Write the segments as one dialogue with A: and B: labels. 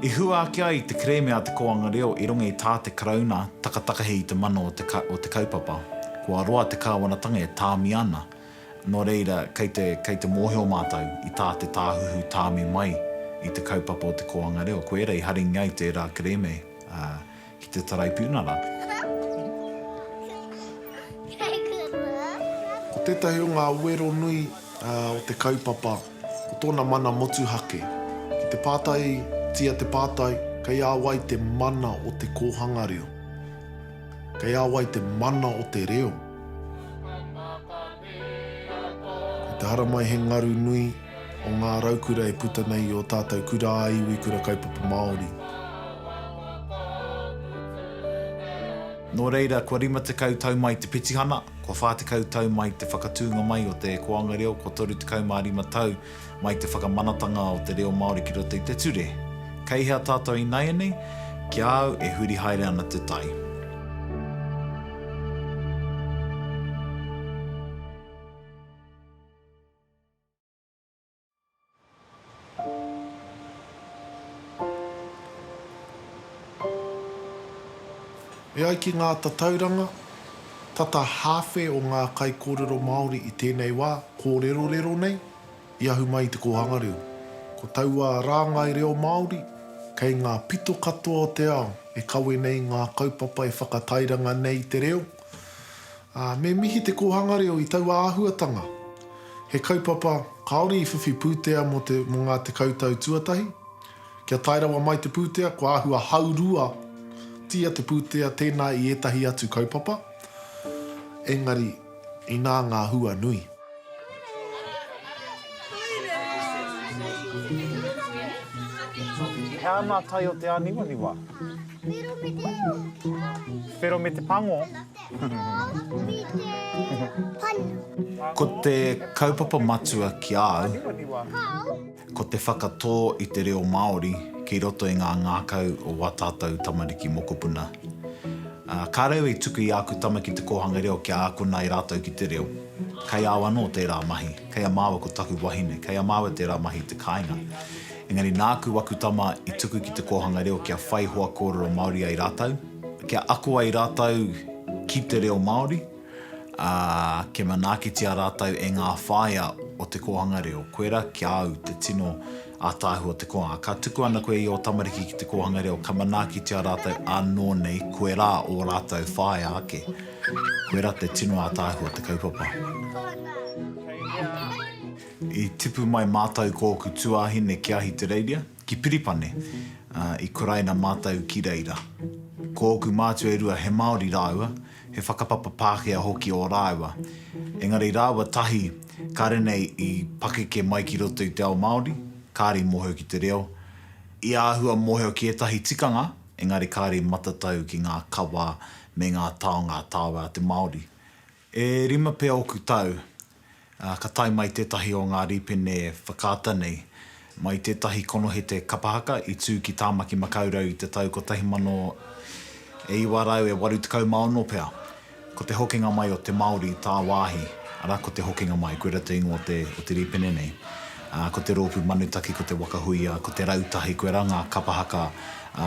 A: I hua ake ai te kerēme a te kōanga reo i runga i tā te Karauna takatakahe i te mana o te o te kaupapa. Kua roa te kāwanatanga e tāmi ana, nō reira kei te kei te mōhio mātou i tā te Tāhuhu tāmi mai i te kaupapa o te kōanga reo. Koia i haringia ai tērā kerēme, ā, ki te Taraipiunara. Ko tētahi o ngā wero nui o te kaupapa, ko tōna mana motuhake. Ki te pātaitia te pātai, kei a wai te mana o te kōhanga reo? Kei a wai te mana o te reo? Ko te haramai he ngaru nui. o ngā raukura e puta nei i ō tātou kura ā-iwi, kura kaupapa Māori. Nō reira, kua 50 tau mai te petihana, kua 40 tau mai te whakatūnga mai o te koanga reo, kua 35 tau mai te whakamanatanga o te reo Māori ki roto i te ture. Kei hea tātou ināianei? Ki a au, e huri haere ana te tai. E ai ki ngā tatauranga, tata hāwhe o ngā kaikōrero Māori i tēnei wā kōrerorero nei i ahu mai i te kōhanga reo. Ko taua rāngai reo Māori kei ngā pito katoa o te ao e kawe nei ngā kaupapa e whakatairanga nei i te reo, Ā, me mihi te kōhanga reo i taua āhuatanga. He kaupapa kāore i whiwhi pūtea mō te, mō ngā tekau tau tuatahi. Kia tae rawa mai te pūtea, kua āhua hauruatia te pūtea tēnā i ētahi atu kaupapa, engari, inā ngā hua nui. He ana tai o te āniwaniwa. Whero me te pango. Ko te kaupapa matua ki a au. Ko te whakatō i te reo Māori ki roto i ngā ngākau o wā tātou tamariki mokopuna. Ka reo i tuku i āku tama ki te kōhanga reo kia ākona e rātou ki te reo. Kei au anō tērā mahi, kei a māua ko taku wahine, kei a māua tērā mahi i te kāinga. Engari nāku aku tama i tuku ki te kōhanga reo kia whai hoa kōrero Māori ai rātou, kia ako ai rātou ki te reo Māori. ā, kia manaakitia rātou e ngā whāea o te kōhanga reo, koirā ki a au te tino ātaahu o te kōhanga. Ka tuku ana koe i ō tamariki ki te kōhanga reo, ka manaakitia rātou ānō nei koirā ō rātou whāea ake. Koirā te tino ātaahu o te kaupapa. I tipu mai mātou ko ōku tuāhine ki Ahitereiria. Ki Piripane, ā, i kuraina mātou ki reira. Ko ōku mātua e rua he Māori rāua, he whakapapa Pākehā hoki ō rāua. Engari rāua tahi, kāre nei i pakeke mai ki roto i te ao Māori, kāre i mōhio ki te reo, i āhua mōhio ki ētahi tikanga, engari kāre i matatau ki ngā kawa me ngā taonga tāwai a te Māori. E rima pea oku tau, ā, ka tae mai tētahi o ngā rīpene whakaata nei, mai tētahi konohete kapa haka i tū ki Tāmaki Makaurau i te tau 1986 pea. Ko te hokinga mai o te Māori i tāwāhi, arā ko te hokinga mai, koe rā te ingoa o te, o te rīpene nei, ā, ko te Rōpū Manutaki, ko te Waka Huia, ko te Rautahi, koe rā ngā kapa haka, ā,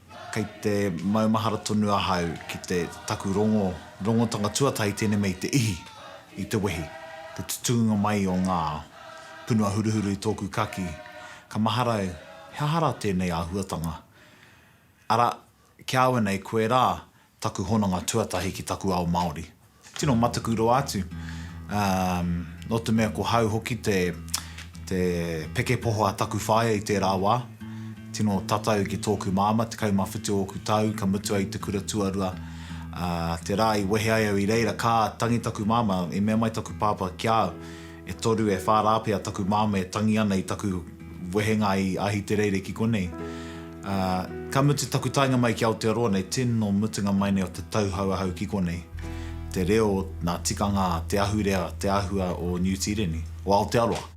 A: Kei te maumahara tonu ahau ki te taku rongo, rongotanga tuatahi tēnei mea i te ihi, i te wehi, te tutunga mai o ngā punua huruhuru i tōku kaki. Ka mahara au, he aha rā tēnei āhuatanga? Ara, ki a au anei, koe rā, taku hononga tuatahi ki taku ao Māori. Tino mataku roa atu, nō te mea ko hau hoki te te pekepoho a taku whaea i tērā wā, tino tatau ki tōku māmā, 17 ōku tau, ka mutu ai i te kura tuarua, ā, te rā i wehe ai au i reira, ka tangi taku māmā, i mea mai taku pāpā ki a au, E toru, e whā rā pea taku māmā e tangi ana i taku wehenga i Ahitereire ki konei. Ā, ka mutu taku taenga mai ki Aotearoa nei tino mutunga mai nei o te tauhou ahau ki konei. Te reo, nā tikanga, te ahurea, te āhua o Niu Tīreni, o Aotearoa.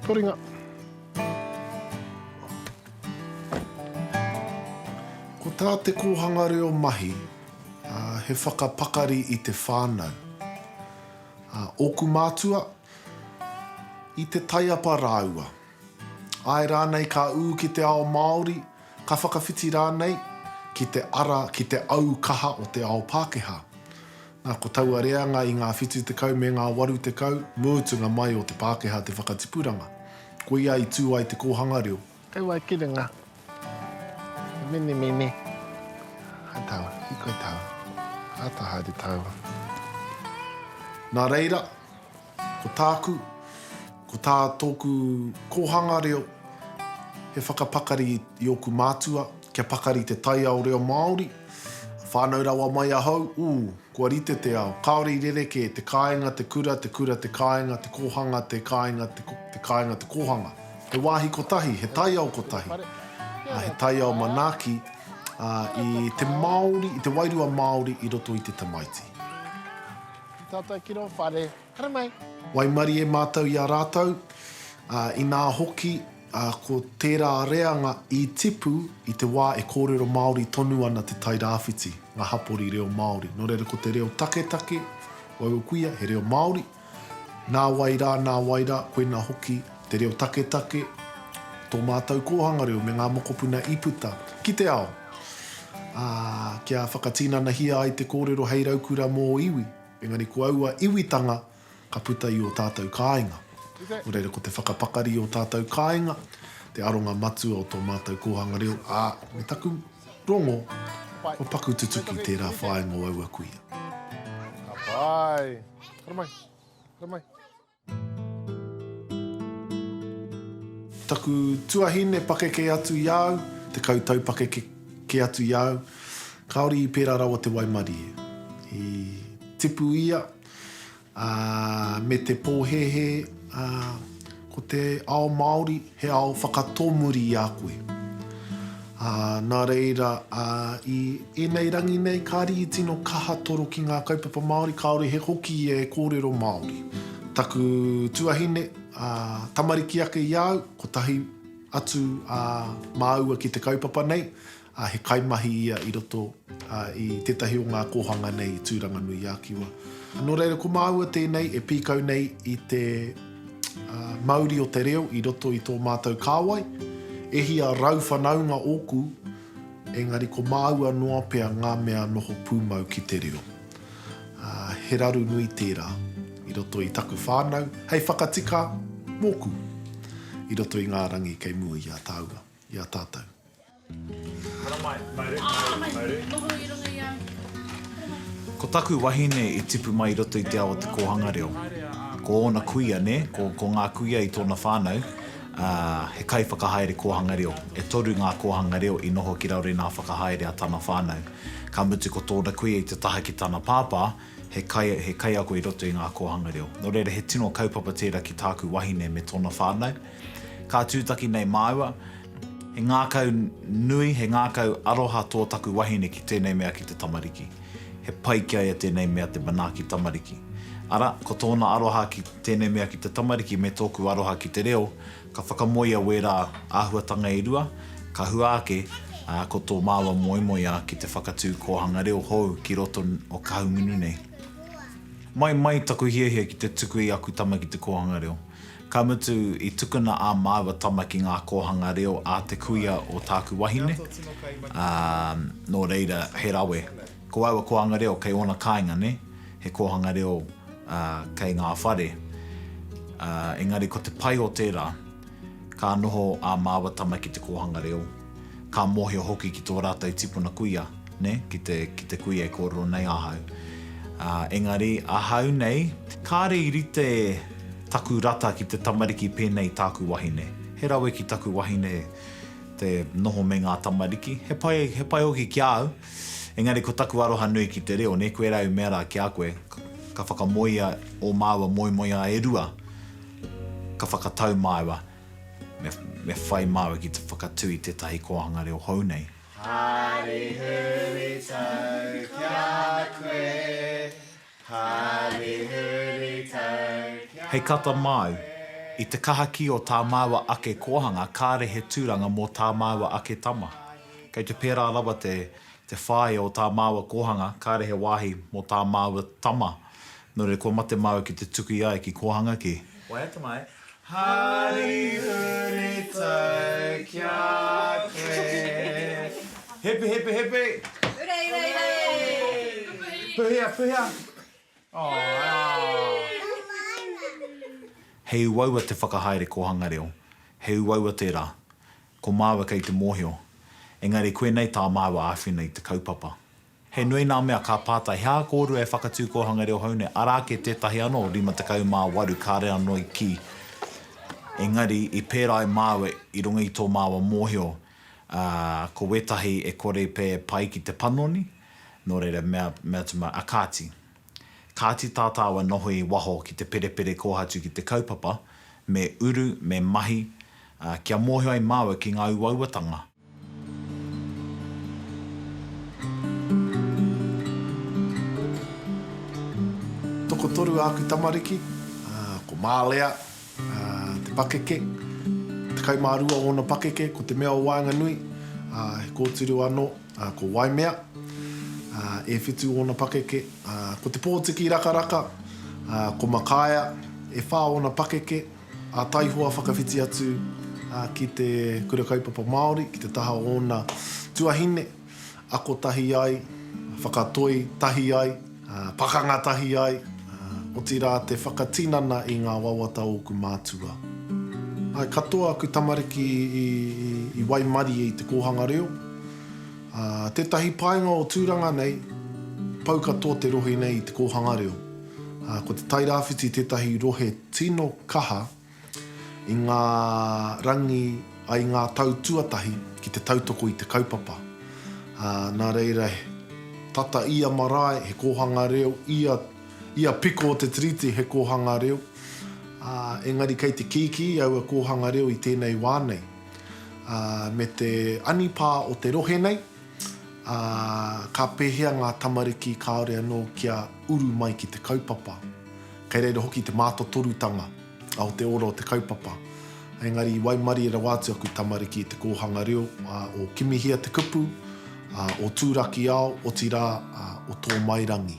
A: Koringa. Ko tā te kōhanga reo mahi, he whakapakari i te whānau. Ōku mātua, i te taiapa rāua. Āe rānei ka ū ki te ao Māori, Ka whakawhiti rānei ki te ara, ki te au kaha o te ao Pākehā. Nā, ko taua reanga i ngā whitu tekau me ngā waru tekau, mūtunga mai o te Pākehā te whakatipuranga. Koia i tū ai te kōhanga reo. Hei wai ki runga. He menemene. Hai tau, hikoi tau. Āta haere tau. Nā reira. Ko tāku, ko tā tōku kōhanga reo, he whakapakari i ōku mātua, kia pakari te taiao reo Māori. Whānau rawa mai ahau, ū, kua rite te ao, kāore i rerekē, te kāinga, te kura, te kura, te kāinga, te kōhanga, te kāinga, te kāinga, te kōhanga. He wāhi kotahi, he taiao kotahi, ā, he taiao manaaki, ā, i te Māori, i te wairua Māori i roto i te tamaiti. Ki tātou ki rō whare. Haramai! Waimarie mātou i a rātou, ā, inā hoki, ā, ko tērā reanga i tipu i te wā e kōrero Māori tonu ana te Tairāwhiti, ngā hapori reo Māori. Nō reira, ko te reo taketake, waua kuia, he reo Māori. Nā wai rā, nā wai rā, koinā hoki te reo taketake, tō mātou kōhanga reo me ngā mokopuna i puta ki te ao. Ā, kia whakatinanahia ai te kōrero hei raukura mō ō iwi, engari ko aua iwitanga ka puta i ō tātou kāinga. Nō reira, ko te whakapakari i ō tātou kāinga te aronga matua o tō mātou kōhanga reo, ā, me taku rongo, kua paku tutuki tērā whāinga o aua kuia. Ka pai! Haere mai! Haere mai! Taku tuahine pakeke atu i a au, tekau tau pakeke kē atu i a au, kāore i pērā rawa te waimarie. I tipu ia, ā, me te pōhēhē, ā, ko te ao Māori, He ao whakatomuri i a koe. Ā, nā reira, ā, i ēnei rangi nei, kāre i tino kaha toro ki ngā kaupapa Māori, kāore he hoki e kōrero Māori. Taku tuahine, ā, tamariki ake i a au, kotahi atu, ā, māua ki te kaupapa nei, ā, he kaimahi ia i roto i tētahi o ngā kōhanga nei i Tūranganui-ā-Kiwa. Nō reira, ko māua tēnei e pīkau nei i te mauri o te reo i roto i tō mātou kāwai. E hia rau whanaunga ōku, engari ko māua noa pea ngā mea noho pūmau ki te reo. He raru nui tērā i roto i taku whānau, hei whakatika mōku i roto i ngā rangi kei mua i a tāua, i a tātou. Ko taku wahine i tipu mai i roto i te ao o te kōhanga reo. Ko ōna kuia, nē, ko, ko ngā kuia i tōna whānau, ā, he kaiwhakahaere kōhanga reo. E toru ngā kōhanga reo i noho ki raro i ngā whakahaere a tana whānau. Ka mutu ko tōna kuia i te taha ki tana pāpā, he kai, he kaiako i roto i ngā kōhanga reo. Nō reira, he tino kaupapa tērā ki tāku wahine me tōna whānau. Ka tūtaki nei māua, he ngākau nui, he ngākau aroha tō taku wahine ki tēnei mea ki te tamariki. He pai ki a ia tēnei mea te manaaki tamariki. Ara, ko tōna aroha ki tēnei mea ki te tamariki me tōku aroha ki te reo, ka whakamoea wērā āhuatanga e rua, ka hua ake, ā, ko tō māua moemoeā ki te whakatū kōhanga reo hou ki roto o Kahungunu nei. Mai mai taku hiahia ki te tuku i aku tama ki te kōhanga reo. Ka mutu, i tukuna ā māua tama ki ngā kōhanga reo a te kuia o tāku wahine, ā, nō reira, he rawe. Ko aua kōhanga reo kei ōna kāinga, nē, he kōhanga reo, ā, kei ngā whare. Ā, engari ko te pai o tērā, ka noho ā māua tama ki te kōhanga reo, Ka mōhio hoki ki tō rātou tipuna kuia, nē, ki te, ki te kuia e kōrero nei ahau. Ā, engari, ahau nei, kāre i rite taku rata ki te tamariki pēnei i tāku wahine. He rawe ki taku wahine te noho me ngā tamariki. He pai, he pai hoki ki a au. Engari ko taku aroha nui ki te reo, nē, koirā i mea rā ki a koe, ka whakamoea ō māua moemoeā e rua, ka whakatau māua. Me whai māua ki te whakatū i tētahi kōhanga reo hou nei. Hari huri tau ki a koe, hari huri tau ki a koe. Hei kata māu, i te kahakī o tā māua ake kōhanga kāre he tūranga mō tā māua ake tama. Kei te pērā rawa te whāia o tā māua kōhanga, kāre he wāhi mō tā māua tama. Nō reira kua mate māua ki te tuku i a ia ki kōhanga kē. Waiata mai, Hari huri tau ki a koe. Hepi hepi hepi. Hurei hurei hurei. Puhia puhia. He uaua te whakahaere kōhanga reo. He uaua tērā. Ko māua kei te mōhio. Engari koinei tā māua āwhina i te kaupapa. He nui ngā mea ka pātai, he aha kōrua e whakatū kōhanga reo hou nei, arā ake tētahi anō, 58 kāre anō i kī, engari i pērā ai māua i runga i tō māua mōhio, ā, ko wētahi e kore i pēe pai ki te panoni, nō reira, mea, mea atu māua, ā, kāti. Kāti tā tāua noho i waho ki te perepere kōhatu ki te kaupapa, me uru, me mahi, ā, kia mōhio ai māua ki ngā uauatanga, Tokotoru āku tamariki, ko Mālea, te pakeke, tekau mā rua ōna pakeke, ko Te Mea o Waenganui, he kōtiro anō, ko Waimea, e whitu ōna pakeke, ko Te Pōtiki Rakaraka, ko Makaea, e whā ōna pakeke. A Taihoa whakawhiti atu ki te Kura Kaupapa Māori, ki te taha o ōna tuahine, ako tahi ai, whakatoi tahi ai, pakanga tahi ai, otirā te whakatinana i ngā wawata o ōku mātua. Ae katoa aku tamariki i waimarie i te kōhanga reo, ā, tētahi painga o Tūranga nei, pau katoa te rohe nei i te kōhanga reo. Ko te Tairāwhiti tētahi rohe tino kaha i ngā rangi i ngā tau tuatahi ki te tautoko i te kaupapa. Nā reira, tata ia marae, he kōhanga reo, ia ia piko o te tiriti he kōhanga reo, ā, engari kei te kīkī aua kōhanga reo i tēnei wā nei, ā, me te anipā o te rohe nei, Ā, ka pēhea ngā tamariki kāore anō kia uru mai ki te kaupapa? Kei reira hoki te mātotorutanga o te ora o te kaupapa. Engari i waimarie rawa atu aku tamariki i te kōhanga reo o Kimihia te kupu, o Tūrakiao, otirā, o Tōmairangi.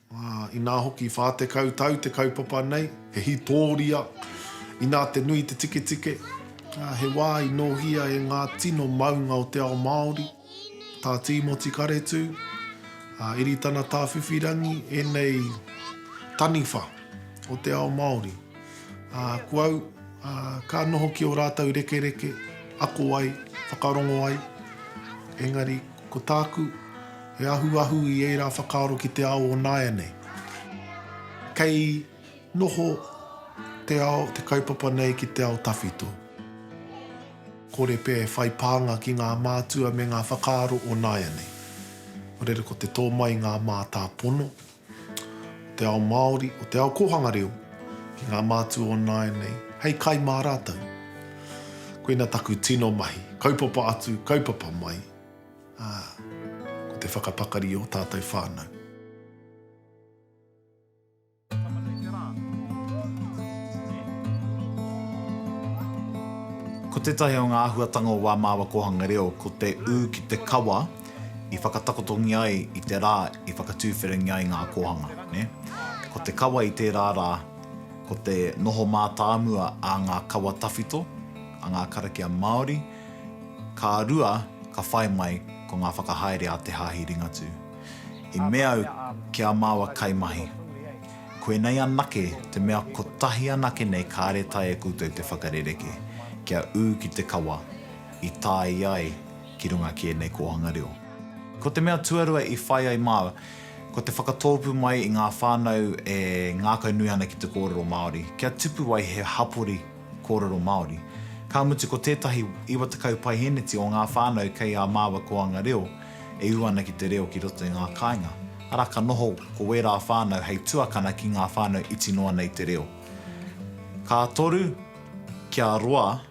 A: Inā hoki 40 tau te kaupapa nei, he hītōria, inā te nui te tiketike, ā, he wā i nōhia e ngā tino maunga o te ao Māori, tā Tīmoti Karetū, a Iritana Tāwhiwhirangi ēnei taniwha o te ao Māori. Ā, ko au, ā, ka noho ki ō rātou rekereke, ako ai, whakarongo ai, engari, Ko tāku, he ahuahu i ērā whakaaro ki te ao o nāianei. Kei noho te ao, te kaupapa nei ki te ao tawhito. Kore pea e whai pānga ki ngā mātua me ngā whakaaro o nāianei. Ko reira ko te tō mai i ngā mātāpono. o te ao Māori, o te ao kōhanga reo ki ngā mātua o nāianei, hei kai mā rātou. Koina taku tino mahi, kaupapa atu, kaupapa mai, ā, ko te whakapakari i ō tātou whānau. Ko tētahi o ngā āhuatanga o Wā Māua Kōhanga Reo ko te ū ki te kawa, i whakatakotongia ai i te rā i whakatūwhiringia ai ngā kōhanga, nē. Ko te kawa i tērā rā, ko te noho mātāmua a ngā kawa tawhito, a ngā karakia Māori, ka rua ka whai mai ko ngā whakahaere a te Hāhi Ringatū. I mea au ki ā māua kaimahi, koinei anake te mea kotahi anake nei kāre taea koutou te whakarerekē kia ū ki te kawa i tāia ai ki runga ki ēnei kōhanga reo. Ko te mea tuarua i whai ai māua, ko te whakatōpū mai i ngā whānau e ngākau nui ana ki te kōrero Māori, kia tupu ai he hapori kōrero Māori. Ka mutu ko tētahi 90 paihēneti o ngā whānau kei ā māua kōhanga reo e ū ana ki te reo ki roto i ngā kāinga, arā ka noho ko wērā whānau hei tuakana ki ngā whānau iti noa nei te reo. Ka toru kia roa.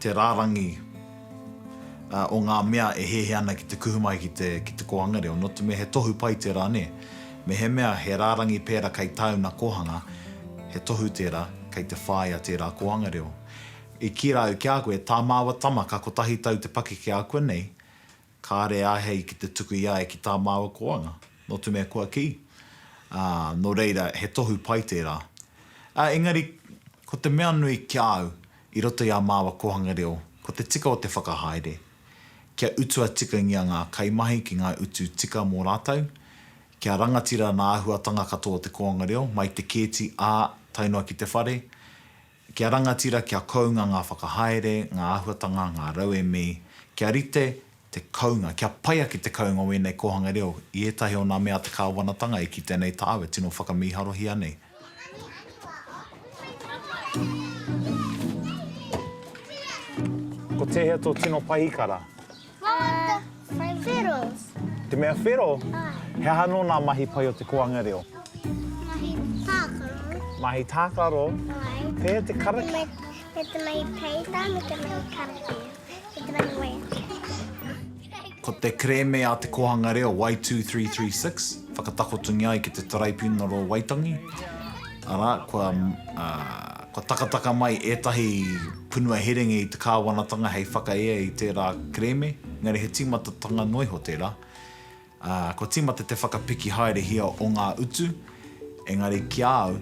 A: te rārangi o ngā mea e hehe ana ki te kuhu mai ki te, ki te kōhanga reo, nō te mea he tohu pai tērā, nē. Mehemea he rārangi pērā kei tāuna kōhanga, he tohu tērā, kei te whāia tērā kōhanga reo. I kīra au ki a koe, tā māua tama ka kotahi tau te pakeke ākuanei, Kāre āhei ki te tuku i a ia ki tā māua koanga, nō te mea kua kī, ā, nō reira, he tohu pai tērā. Ā, engari, ko te mea nui ki a au i roto i ā māua kōhanga reo, ko te tika o te whakahaere, kia utua tikangia ngā kaimahi ki ngā utu tika mō rātou, kia rangatira nā āhuatanga katoa o te kōanga reo, mai te kēti, ā, tae noa ki te whare, Kia rangatira, kia kounga ngā whakahaere, ngā āhuatanga, ngā rauemi, kia rite te kounga, kia pai ake te kounga o ēnei kōhanga reo i ētahi o ngā mea a te kāwanatanga e kite nei tāu e tino whakamīharohia nei. Ko tēhea tō tino pahikara? I like the whirls. Te mea whirl? He aha anō nā mahi pai o te koanga reo? Mahi tākaro. Mahi tākaro? Ai. Pēhea te karakia? Me te mahi peita, me te mahi karakia, me te mahi waiata. Ko te kerēme a Te Kōhanga Reo Y2336 whakatakotungia ai ki te Taraipiunara o Waitangi, arā, kua Ka takataka mai ētahi punua herenga i te kāwanatanga hei whakaea i tērā kerēme, engari he tīmatatanga noa iho tērā, ā, kua tīmata te whakapiki haerehia o ngā utu, engari ki a au,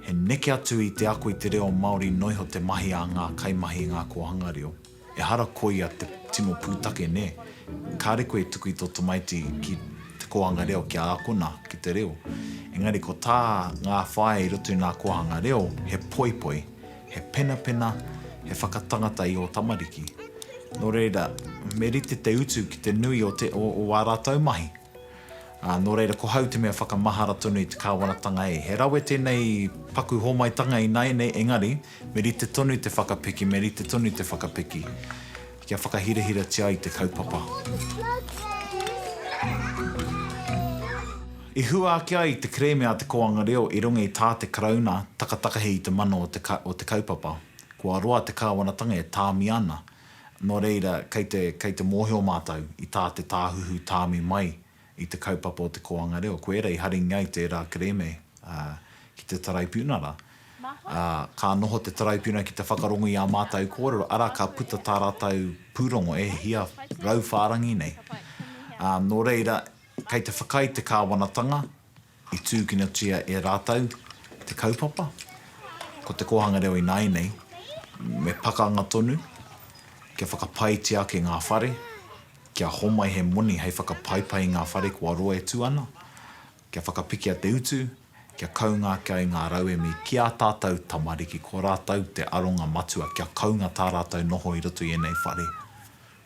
A: he neke atu i te ako i te reo Māori noa iho te mahi a ngā kaimahi i ngā kōhanga reo. Ehara koia te tino pūtake, nē? Kāre koe e tuku i tō tamaiti ki te kōhanga reo kia ākona ki te reo. Engari ko tā ngā whāea i roto i ngā kōhanga reo, he poipoi, he penapena, he whakatangata i ō tamariki. Nō reira, me rite te utu ki te nui o te, o ā rātou mahi. Ā, nō reira, ko hau te mea whakamahara tonu i te kāwanatanga e. He rawe tēnei paku hōmaitanga ināianei, engari, Me rite tonu te whakapiki, me rite tonu te whakapiki, kia whakahirahiratia ai te kaupapa. I hua ake ai te kerēme a te kōanga reo i runga i tā te Karauna takatakahi i te mano o te kaupapa. Kua roa te kāwanatanga e tāmi ana, nō reira kei te mōhio mātou i tā te Tāhuhu tāmi mai i te kaupapa o te kōhanga reo, ko ērā i haringi ai tērā kerēme ki te Taraipiuna rā. Ā, ka noho te Taraipiuna ki te whakarongo i ā mātou kōrero, arā, ka puta tā rātou pūrongo e hia rau whārangi nei. Ā, nō reira, kei te whakaae te kāwanatanga, I tūkinotia e rātou te kaupapa, ko Te Kōhanga Reo ināianei, me pakanga tonu, kia whakapaetia ake ngā whare, kia homai he moni hei whakapaipai i ngā whare kua roa e tū ana, kia whakapikia te utu, kia kaunga ake ai ngā rauemi ki ā tātou tamariki, ko rātou te aronga matua kia kaunga tā rātou noho i roto i ēnei whare.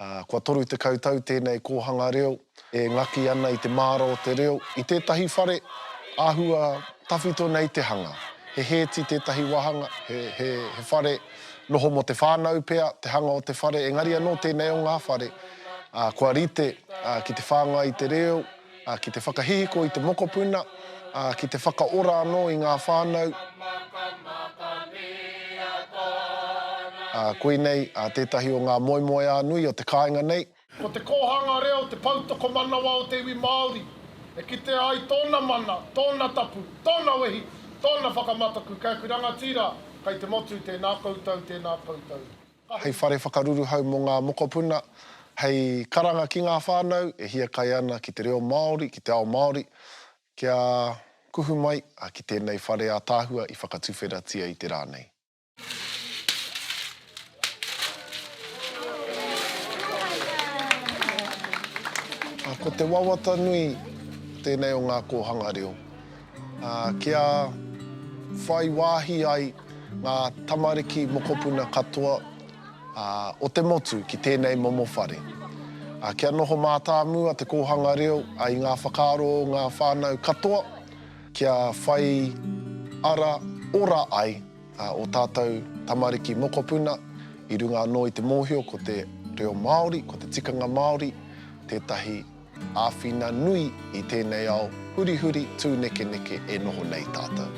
A: Kua 30 tau tēnei kōhanga reo e ngaki ana i te māra o te reo. I tētahi whare, āhua tawhito nei te hanga. He hēti tētahi wāhanga, he whare noho mō te whānau pea te hanga o te whare, engari anō tēnei o ngā whare, kua rite ki te whāngai i te reo. ki te whakahihiko i te mokopuna, ā, ki te whakaora anō i ngā whānau. Ā, koinei tētahi o ngā moemoeā nui o te kāinga nei. Ko te kōhanga reo te pou tokomanawa o te iwi Māori, e kitea ai tōna mana, tōna tapu, tōna wehi, tōna whakamataku. Kei aku rangatira, kei te motu, tēnā koutou, tēnā koutou. hei whare whakaruruhau mō ngā mokopuna, hei karanga ki ngā whānau e hiakai ana ki te reo Māori, ki te ao Māori, kia kuhu mai ki tēnei whare ātaahua i whakatuwheratia i te rā nei. Ko te wawata nui tēnei o ngā kōhanga reo. Kia whai wāhi ai ngā tamariki mokopuna katoa o te motu ki tēnei momo whare. Kia noho mātāmua te kōhanga reo i ngā whakaaro o ngā whānau katoa, kia whai ara ora ai ō tātou tamariki mokopuna i runga anō i te mōhio ko te reo Māori, ko te tikanga Māori tētahi. Āwhina nui i tēnei ao hurihuri tūnekeneke e noho nei tātou.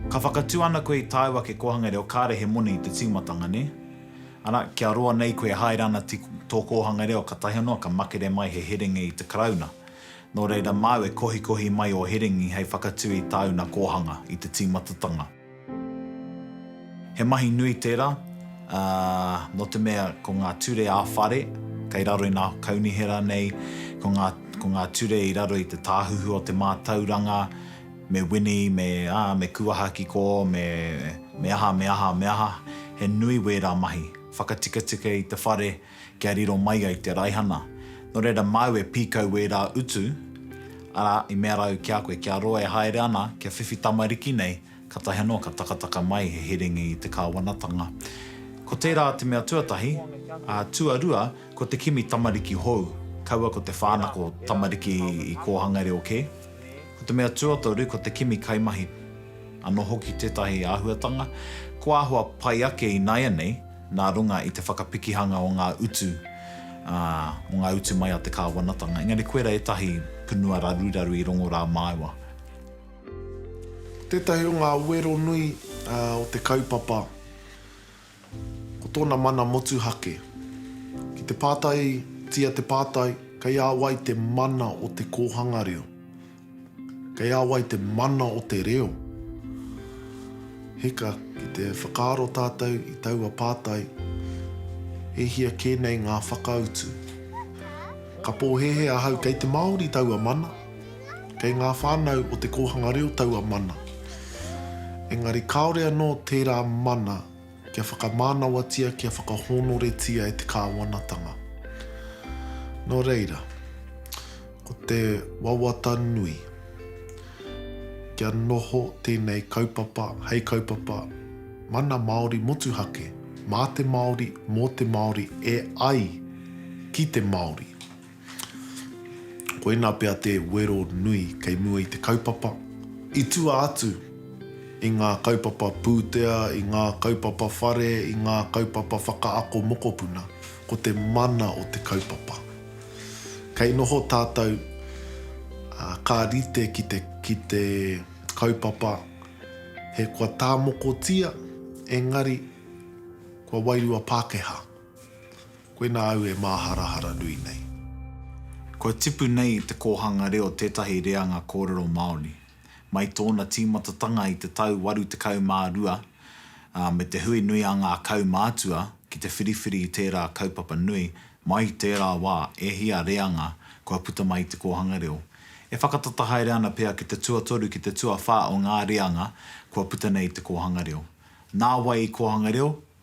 A: Ka whakatū ana koe i tāu ake kōhanga reo kāre he moni te tīmatanga, nē? Arā, kia roa nei koe e haere ana ki tō kōhanga reo ka tahi noa ka makere mai he herenga i te Karauna. Nō reira māu e kohikohi mai ō herengi hei whakatū i tāu nā kōhanga, i te tīmatatanga. He mahi nui tērā, ā, nō te mea ko ngā ture ā-whare kei raro i nā kaunihera nei, ko ngā, ko ngā ture i raro i te tāhuhu o te mātauranga, me wini, me, ā, me kuaha ki kō, me, me aha, me aha, me aha, he nui wērā mahi. Whakatikatika i te whare. kia riro mai ai te raihana. Nō reira māu e pīkau wērā utu, arā, i mea rāu ki a koe, kia roa e haere ana, kia whiwhi tamariki nei, kātahi anō ka takataka mai he herengi i te kāwanatanga. Ko tērā te mea tuatahi, ā, tuarua, ko te kimi tamariki hou, kaua ko te whānako tamariki i kōhanga reo kē. Ko te mea tuatoru, ko te kimi kaimahi. Anō hoki tētahi āhuatanga, kua āhua pai ake ināianei, nā runga i te whakapikihanga o ngā utu, ā, o ngā utu mai a te kāwanatanga. Engari koirā ētahi punua raruraru i rongo rā māua. Tētahi o ngā wero nui o te kaupapa, ko tōna mana motuhake. Ki te pātaitia te pātai, kei a wai te mana o te kōhanga reo? Kei a wai te mana o te reo? Hika, ki te whakaaro tātou i taua pātai, e hia kē nei ngā whakautu? Ka pōhēhē ahau kei te Māori taua mana, kei ngā whānau o te kōhanga reo taua mana. Engari kāore anō tērā mana. Kia whakamānawatia, kia whakahōnoretia e te Kāwanatanga. Nō reira, ko te wawata nui, kia noho tēnei kaupapa hei kaupapa mana Māori motuhake, mā te Māori, mō te Māori, e ai ki te Māori. Koinā pea te wero nui kei mua i te kaupapa, i tua atu i ngā kaupapa pūtea, i ngā kaupapa whare, i ngā kaupapa whakaako mokopuna, ko te mana o te kaupapa. Kei noho tātou, ā, ka rite ki te, ki te kaupapa he kua tāmokotia, engari, kua wairua Pākehā. Koinā au e māharahara nui nei. Kua tipu nei te kōhanga reo tētahi reanga kōrero Māori. Mai tōna tīmatatanga i te tau 82, ā, me te hui nui a ngā kaumātua ki te whiriwhiri i tērā kaupapa nui, mai i tērā wā, e hia reanga kua puta mai i te kōhanga reo. E whakatata haere ana pea ki te tuatoru, ki te tuawhā o ngā reanga kua puta nei i te kōhanga reo. Nā wai i kōhanga reo,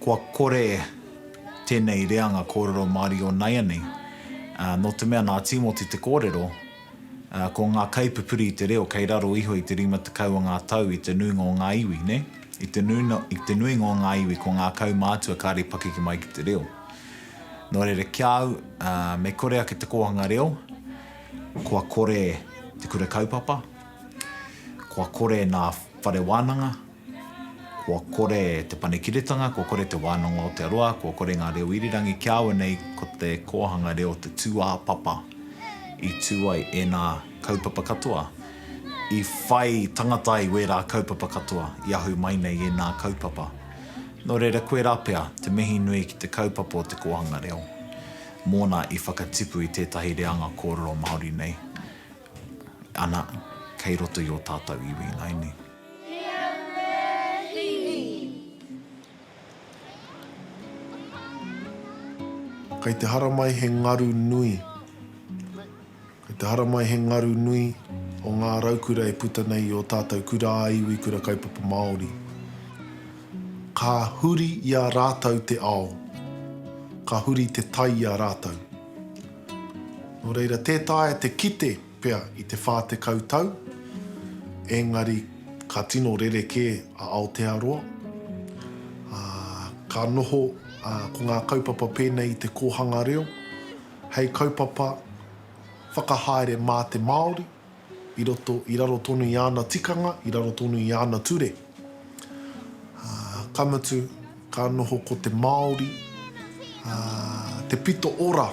A: Kua kore tēnei reanga kōrero mārio naianei, nō te mea nā Tīmoti te kōrero, ko ngā kaipupuri i te reo kei raro iho i te rima tekau o ngā tau i te nuinga o ngā iwi, nē? I te te nuinga o ngā iwi ko ngā kaumātua kāre pakeke mai ki te reo. Nō reira ki a au, me kore ake te kōhanga reo, kua kore te kura kaupapa, kua kore nā whare wānanga, Kua kore Te Panekiretanga, kua kore Te Wānanga o Aotearoa, kua kore ngā reo irirangi kia awe nei ko te kōhanga reo te tūāpapa i tū ai ēnā kaupapa katoa, i whai tangata ai wērā kaupapa katoa, i ahu mai nei ēnā kaupapa. Nō reira koirā pea te mihi nui ki te kaupapa o te kōhanga reo mōna i whakatipu i tētahi reanga kōrero Māori nei ana kei roto i ō tātou iwi ināianei. Kei te haramai he ngaru nui Kei te haramai he ngaru nui o ngā raukura e puta nei i ō tātou kura-ā-iwi, kura kaupapa Māori. Ka huri i a rātou te ao, ka huri te tai i a rātou. Nō reira, tē taea te kite. pea i te whā tekau tau, engari ka tino rerekē a Aotearoa, ā, ka noho ko ngā kaupapa pēnei i te kōhanga reo hei kaupapa whakahaere mā te Māori i roto, i raro tonu i āna tikanga, i raro tonu i āna ture. Ka mutu, ka noho ko te Māori te pito ora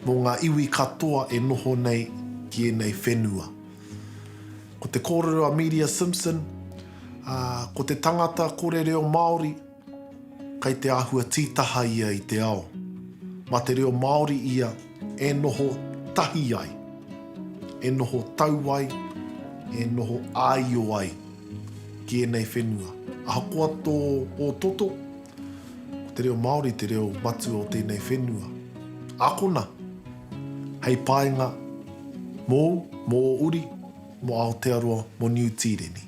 A: mō ngā iwi katoa e noho nei ki ēnei whenua. Ko te kōrero a Miria Simpson, ko te tangata kore reo Māori, Kei te āhua tītaha ia i te ao. Mā te reo Māori ia e noho tahi ai, e noho tau ai, e noho āio ai ki ēnei whenua. Ahakoa tō ōtoto, ko te reo Māori te reo matua o tēnei whenua. Ākona, hei painga mōu, mō ō uri, mō Aotearoa, mō Niu Tīreni.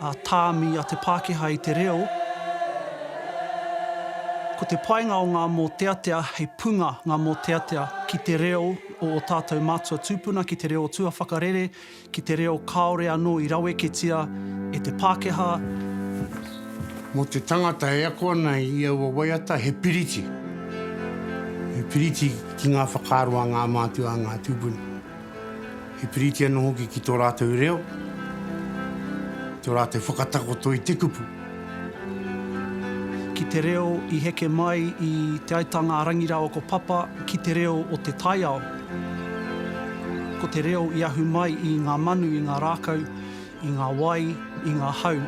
A: a tāmi a te Pākehā i te reo, ko te painga o ngā mōteatea hei punga ngā mōteatea ki te reo o ō tātou mātua tūpuna, ki te reo tuawhakarere, ki te reo kāore anō i raweketia e te Pākehā. Mō te tangata e ako ana i aua waiata he piriti, he piriti ki ngā whakaaro a ngā mātua, a ngā tūpuna. He piriti anō hoki ki tō rātou reo, tō rātou whakatakoto i te kupu. Ki te reo i heke mai i Te Aitanga a Rangirawako Papa ki te reo o te taiao. Ko te reo i ahu mai i ngā manu, i ngā rākau, i ngā wai, i ngā hau.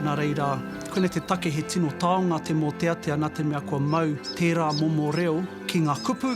A: Nā reira, koinei te take he tino taonga te mōteatea nā te mea kua mau tērā momo reo ki ngā kupu,